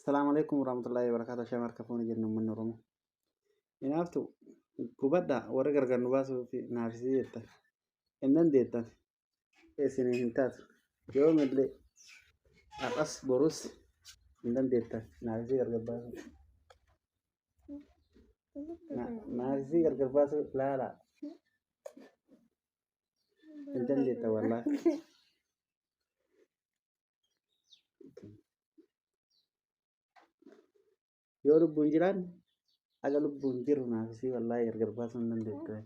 Salaamu alaikum warahmatullahi wabarakatuh. Shaamar kafuuni jennu uummanni Oromoo. Inaaftu gubadha warri gargar nu baasuu fi naafisii jettan. Hin dandeettan. Isin hin taatu. Yoomillee har'as borus hin dandeettan naafisii gargar baasuu. Na- Naafisii gargar baasuu laala. Hin dandeettan wallaahi. yoo lubbuun jiraan haga lubbuun jiru naafisii wallaahi gargar baasuu hin dandeettu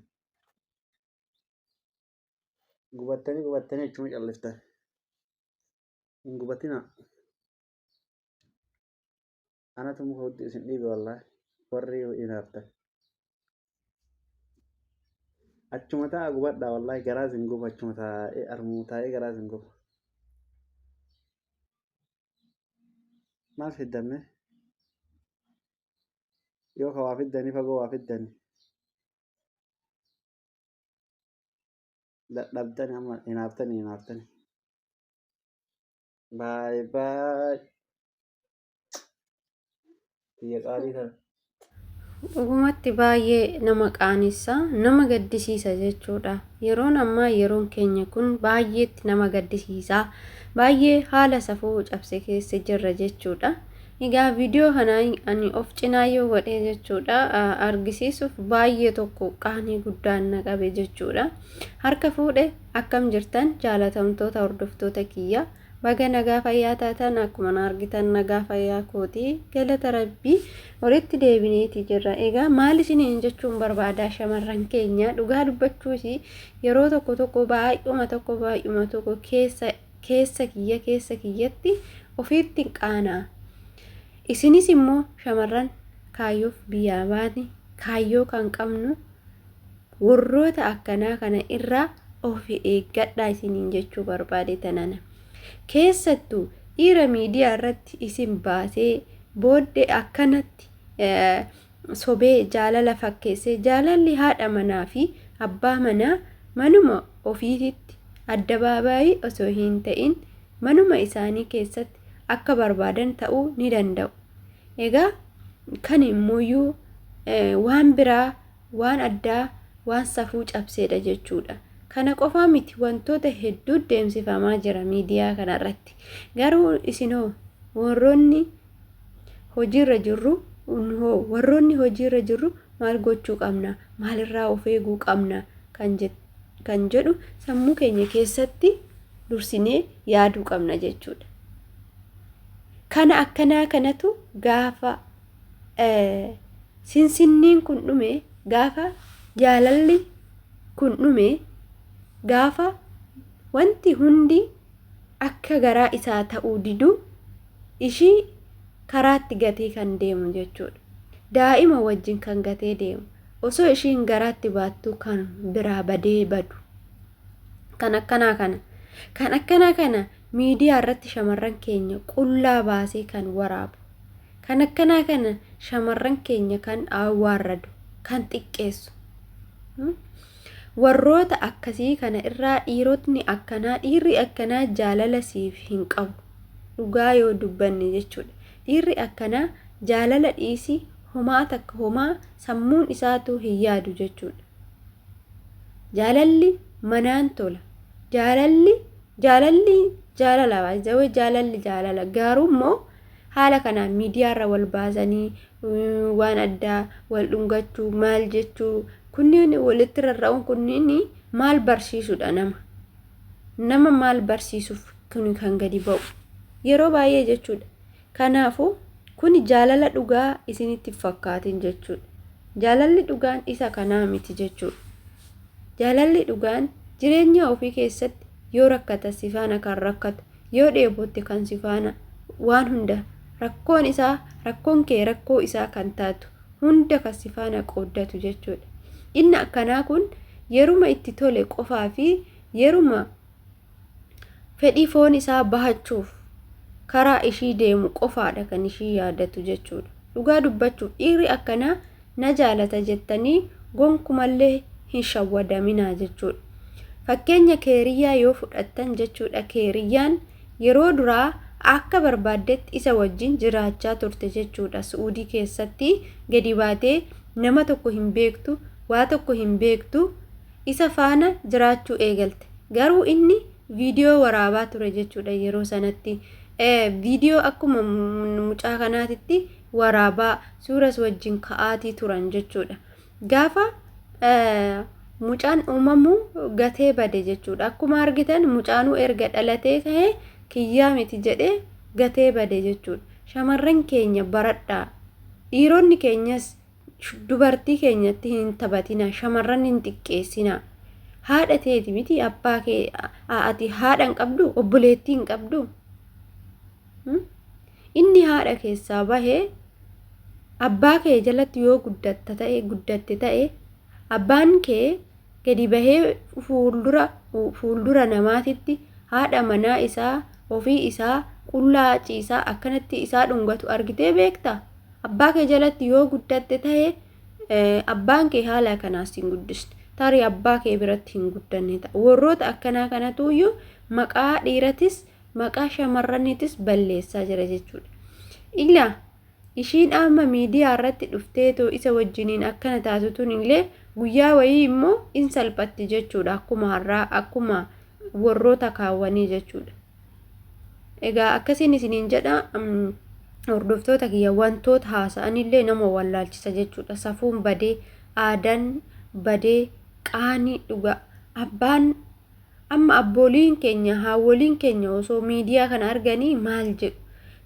gubattanii gubattanii achuma calliftan hin gubatinaa Anatu muka hudduu isin dhiibe wallahi warri inaaftan. Achuma ta'a gubadhaa wallahi garaa isin guba achuma taa'ee armuu taa'ee garaa isin guba. Maal fiddamme? Yoo ka waa fiddanii fagoo waa fiddanii. Dadhabdani amma inaaftani inaaftani. Baay baay. Biyya qaalii kana. Dhugumatti baay'ee nama qaanessa, nama gaddisiisa jechuudha. Yeroon ammaa yeroon keenya kun baay'eetti nama gaddisiisa. Baay'ee haala safuu cabse keessa jirra jechuudha. Egaa viidiyoo kana ani of cinaa yoo godhee jechuudha argisiisuuf baay'ee tokko qaanii guddaan na qabe jechuudha. Harka fuudhe akkam jirtan jaalatamtoota hordoftoota kiyya. Baga nagaa fayyaa taatan akkuma na argitan nagaa fayyaa kooti galata rabbii walitti deebineeti jirra egaa maal isiniin jechuun barbaadaa shamarran keenya dhugaa dubbachuus yeroo tokko tokko baay'uma tokko baay'uma tokko keessa keessa kiyya keessa kiyyatti ofiitti qaanaa isinis immoo shamarran kaayyoof biyyaa baate kaayyoo kan qabnu Warroota akkanaa kana irraa of eeggadhaa isiniin jechuu barbaade tanana. Keessattu dhiira miidiyaa irratti isin baasee boodde akkanatti sobee jaalala fakkeessee jaalalli haadha manaa fi abbaa manaa manuma ofiititti addabaabaayii osoo hin ta'in manuma isaanii keessatti akka barbaadan ta'uu ni danda'u. Egaa kan immooyyuu waan biraa waan addaa, waan safuu cabseedha jechuudha. Kana qofaa miti wantoota hedduu deemsifamaa jira miidiyaa kanarratti. Garuu isinoo warroonni hojiirra jirru hoo warroonni hojiirra jirru maal gochuu qabna? Maalirraa of eeguu qabna? Kan jedhu kan jedhu sammuu keenya keessatti dursinee yaaduu qabna jechuudha. Kana akkanaa kanatu gaafa sinsinniin kun dhume gaafa jaalalli kun dhume gaafa wanti hundi akka garaa isaa ta'uu didu ishii karaatti gatee kan deemu jechuudha. Daa'ima wajjin kan gatee deemu osoo ishiin garaatti baattuu kan biraa badee badu. Kan akkanaa kana kan akkanaa kana miidiyaa irratti shamarran keenya qullaa baasee kan waraabu. Kan akkanaa kana shamarran keenya kan waarradu, kan xiqqeessu. Warroota akkasii kana irraa dhiirotni akkanaa, dhiirri akkanaa jaalala siif hin qabu. Dhugaa yoo dubbanne jechuudha. Dhiirri akkanaa jaalala dhiisii homaa takka homaa sammuun isaatuu hin yaadu jechuudha. Jaalalli manaan tola. Jaalalli jaalalli jaalala baay'ee jaalalli jaalala garuu immoo Haala kanaan miidiyaarra wal baasanii waan addaa wal dhungachuu maal jechuu kunniin walitti rarra'uun kunniin maal barsiisudha nama? Nama maal barsiisuuf kun kan gadi ba'u? Yeroo baay'ee jechuudha. Kanaafuu kun jaalala dhugaa isinitti fakkaatin jechuudha. Jaalalli dhugaan isa kanaa miti jechuudha. Jaalalli dhugaan jireenya ofii keessatti yoo rakkatan sifaana kan rakkatu yoo dheebotte kan si faana waan hunda rakkoon isaa rakkoon kee rakkoo isaa kan taatu hunda kan si faana qooddatu jechuudha. Inni akkanaa kun yeruma itti tole qofaa fi yeruma fedhii foon isaa bahachuuf karaa ishii deemu qofaadha kan ishii yaadatu jechuudha. Dhugaa dubbachuuf dhiirri akkanaa na jaalata jettanii gonkumallee hin shawwadaminaa jechuudha. Fakkeenya Keeriyyaa yoo fudhattan jechuudha Keeriyyaan yeroo duraa akka barbaaddetti isa wajjin jiraachaa turte jechuudha Su'uudii keessatti gadi baatee nama tokko hin beektu waa tokko hin beektu isa faana jiraachuu eegalte garuu inni viidiyoo waraabaa ture jechuudha yeroo sanatti viidiyoo akkuma mucaa kanaatitti waraabaa, suuras wajjin ka'aatii turan jechuudha. Gaafa mucaan uumamu gatee bade jechuudha. Akkuma argitan mucaanuu erga dhalatee ka'ee kiyyaa miti jedhee gatee bade jechuudha. Shamarran keenya baradhaa. Dhiironni keenyas dubartii keenyatti hin taphatina. Shamarran hin xiqqeessina. Haadha teeti miti abbaa kee ati haadha hin qabdu obboleettii hin qabdu. Inni haadha keessaa bahe abbaa kee jalatti yoo guddatta ta'e guddatte ta'e abbaan kee gadi bahee fuuldura fuuldura namaatitti haadha manaa isaa ofii isaa qullaa ciisaa akkanatti isaa dhungatu argitee beekta abbaa kee jalatti yoo guddatte ta'e abbaan kee haala kanaas hin guddisne tarii abbaa kee biratti hin guddanne ta'a warroota akkanaa kanatuyyuu maqaa dhiiratis maqaa shamarraniitis balleessaa jira jechuudha. Ila ishiin amma miidiyaa irratti dhufteetoo isa wajjiniin akkana taasisuun illee guyyaa wayii immoo in salphatti jechuudha akkuma har'aa akkuma warroota kaawwanii jechuudha. Egaa akkasiin isiniin jedha hordoftoota kiyya wantoota haasa'an illee nama wallaalchisa jechuudha. Safuun badee, aadaan badee, qaanii dhugaa abbaan Amma abbooliin keenya, haawwoliin keenya osoo miidiyaa kana arganii maal jedhu?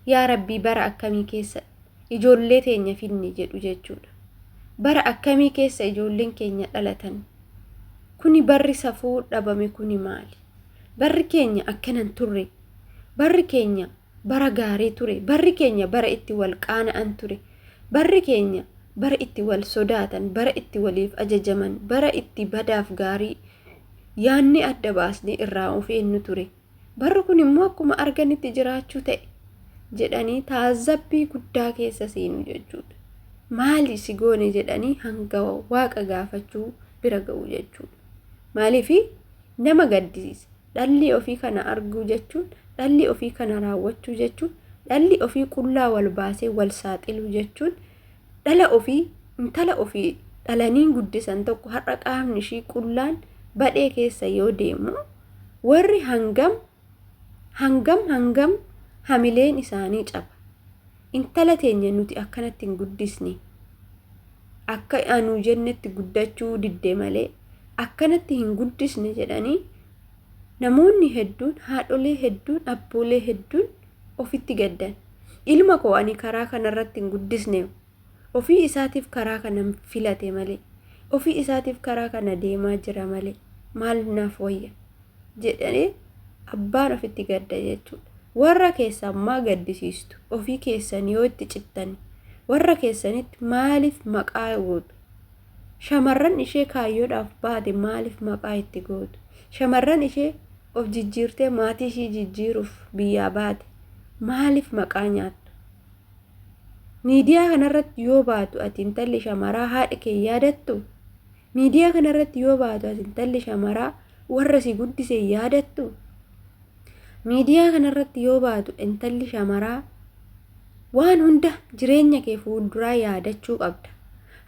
Yaa Rabbii bara akkamii keessa ijoollee teenya fidne jedhu jechuudha. Bara akkamii keessa ijoolleen keenya dhalatan? Kuni barri safuu dhabame kuni maali? Barri keenya akkana hin turre. Barri keenya bara gaarii ture. Barri keenya bara itti wal qaana'an ture. Barri keenya bara itti wal sodaatan, bara itti waliif ajajaman, bara itti badaaf gaarii yaanni adda baasnee irraa of eennu ture. Barri kun immoo akkuma arganitti jiraachuu ta'e jedhanii taazabbii guddaa keessa seenu jechuudha. Maali si goone jedhanii hanga waaqa gaafachuu bira ga'u jechuudha. Maaliif nama gaddisiisa. dhalli ofii kana arguu jechuun dhalli ofii kana raawwachuu jechuun dhalli ofii qullaa wal baasee wal saaxiluu jechuun dhala ofii intala ofii dhalaniin guddisan tokko har'a qaamni ishii qullaan badhee keessa yoo deemu warri hangam hangam hangam hamileen isaanii caba intala teenya nuti akkanatti hin guddisne akka anuu jennetti guddachuu didde malee akkanatti hin guddisne jedhanii namoonni hedduun haadholee hedduun abboolee hedduun ofitti gaddan ilma koo ani karaa kanarratti hin guddisne ofii isaatiif karaa kana filate malee ofii isaatiif karaa kana deemaa jira malee maal naaf wayya jedhanii abbaan ofitti gadda jechuudha. Warra keessan maa gaddisiistu ofii keessan yoo itti cittan warra keessanitti maaliif maqaa gootu Shamarran ishee kaayyoodhaaf baate maaliif maqaa itti gootu? Shamarran ishee of jijjiirtee maatii ishii jijjiiruuf biyyaa baate maaliif maqaa nyaattu? Miidiyaa kanarratti yoo baatu ati intalli shamaraa haadha kee yaadattu? Miidiyaa kanarratti yoo baatu ati intalli shamaraa warra si guddise yaadattu? Miidiyaa kanarratti yoo baatu intalli shamaraa Waan hunda jireenya kee fuulduraa yaadachuu qabda.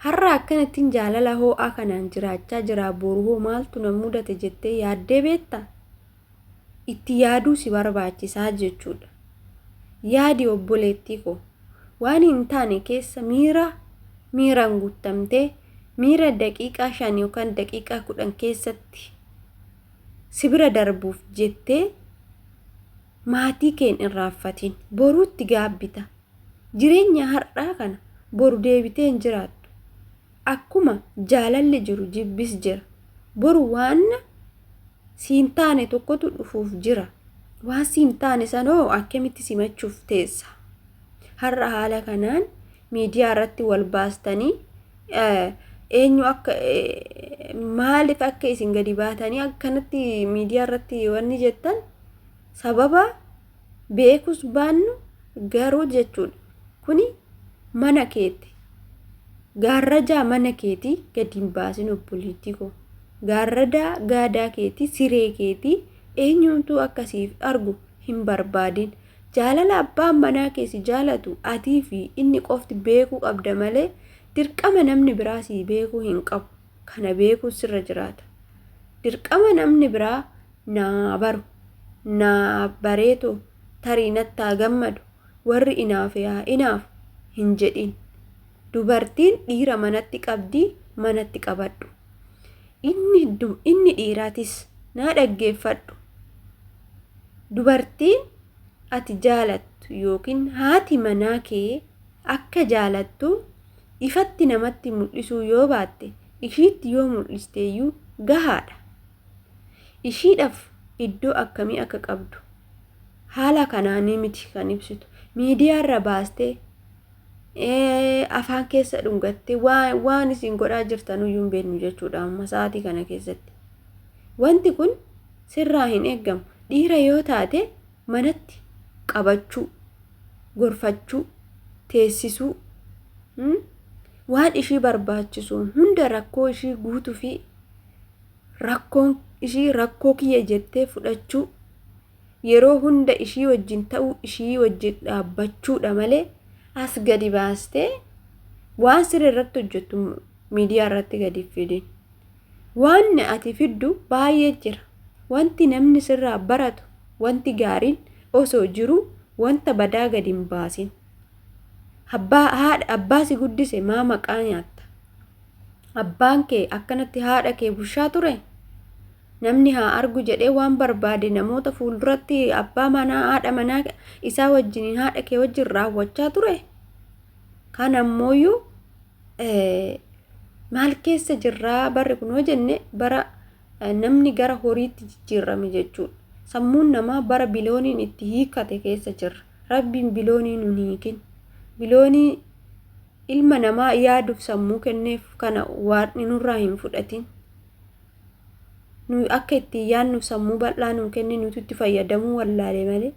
Har'a akkanattiin jaalala hoo'aa kanaan jiraachaa jiraa boru hoo maaltu na mudate jettee yaaddee beekta? Itti yaaduu si barbaachisaa jechuudha. Yaadi obboleettii koo. Waan hin taane keessa miira miiraan guuttamtee miira daqiiqaa shan yookaan daqiiqaa kudhan keessatti si bira darbuuf jettee Maatii kee hin irraanfatin. Boruutti gaabbita. Jireenya har'aa kana boru deebitee hin jiraattu. Akkuma jaalalli jiru jibbis jira. Boru waan si hin taane tokkotu dhufuuf jira. Waan si hin taane sanoo akkamitti simachuuf teessa? Har'a haala kanaan miidiyaa irratti wal baastanii eenyu akka maaliif akka isin gadi baatanii akkanatti miidiyaa irratti wanni jettan sababa beekus baannu garuu jechuudha kuni mana keetti gaarrajaa mana keetii gadi hin baasin obboleettii koo gaarradaa gaadaa keetii siree keetii eenyumtuu akkasiif argu hin barbaadin jaalala abbaan manaa keessi jaalatu atii fi inni qofti beekuu qabda malee dirqama namni biraa sii beekuu hin qabu kana beekuu sirra jiraata dirqama namni biraa naa baru, naa bareetu, tarii natti haa gammadu, warri inaafe haa inaafu hin jedhiin. Dubartiin dhiira manatti qabdi manatti qabadhu. Inni, inni dhiiratis naa dhaggeeffadhu. Dubartiin ati jaalattu yookiin haati manaa kee akka jaalattu ifatti namatti mul'isuu yoo baatte ishiitti yoo mul'isteeyyuu gahaadha. ishiidhaaf iddoo akkamii akka qabdu haala kanaanii miti kan ibsitu. Miidiyaarra baastee afaan keessa dhungattee waan isin godhaa jirtanuyyuu hin beeknu jechuudha amma sa'aatii kana keessatti. Wanti kun sirraa hin eegamu. Dhiira yoo taate manatti qabachuu, gorfachuu, teessisuu, waan ishii barbaachisu hunda rakkoo ishii guutuu fi Rakkoon ishii rakkoo kiyya jettee fudhachuu, yeroo hunda ishii wajjin ta'uu, ishii wajjin dhaabbachuudha malee as gadi baastee waan siree irratti hojjettu miidiyaa irratti gadi fidin. Waan ati fiddu baay'ee jira. Wanti namni sirraa baratu, wanti gaariin osoo jiru wanta badaa gadi hin baasin. Abbaa haadha abbaa si guddise maa maqaa nyaatta? Abbaan kee akkanatti haadha kee bushaa ture? Namni haa argu jedhee waan barbaade namoota fuulduratti abbaa manaa haadha manaa isaa wajjiniin haadha kee wajjin raawwachaa ture? Kan ammooyyuu maal keessa jirraa barri kun yoo jenne bara namni gara horiitti jijjiirame jechuudha. Sammuun namaa bara bilooniin itti hiikkate keessa jirra. Rabbiin biloonii nun hiikin. Biloonii ilma namaa yaaduuf sammuu kenneef kana waaqni nurraa hin fudhatin. Nuyi akka ittiin yaadnuuf sammuu bal'aa nuu kenne nuti itti fayyadamuu wallaalee malee.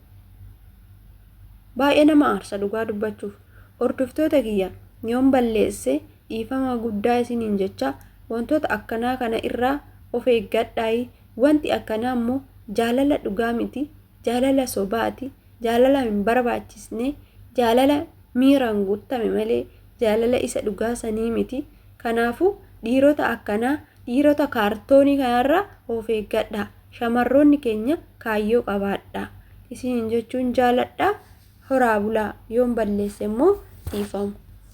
Baay'ee nama aarsa dhugaa dubbachuuf. Hordoftoota kiyya yoon balleesse dhiifama guddaa isiniin jecha wantoota akkanaa kana irraa of eeggadhaayi. Wanti akkanaa immoo jaalala dhugaa miti jaalala sobaati, jaalala hin barbaachisne, jaalala miiraan guuttame malee jaalala isa dhugaa sanii miti. Kanaafuu dhiirota akkanaa, dhiirota kaartoonii kanarraa of eeggadhaa. Shamarroonni keenya kaayyoo qabaadhaa. Isiniin jechuun jaaladha. Horaa bulaa. Yoon balleesse immoo dhiifama.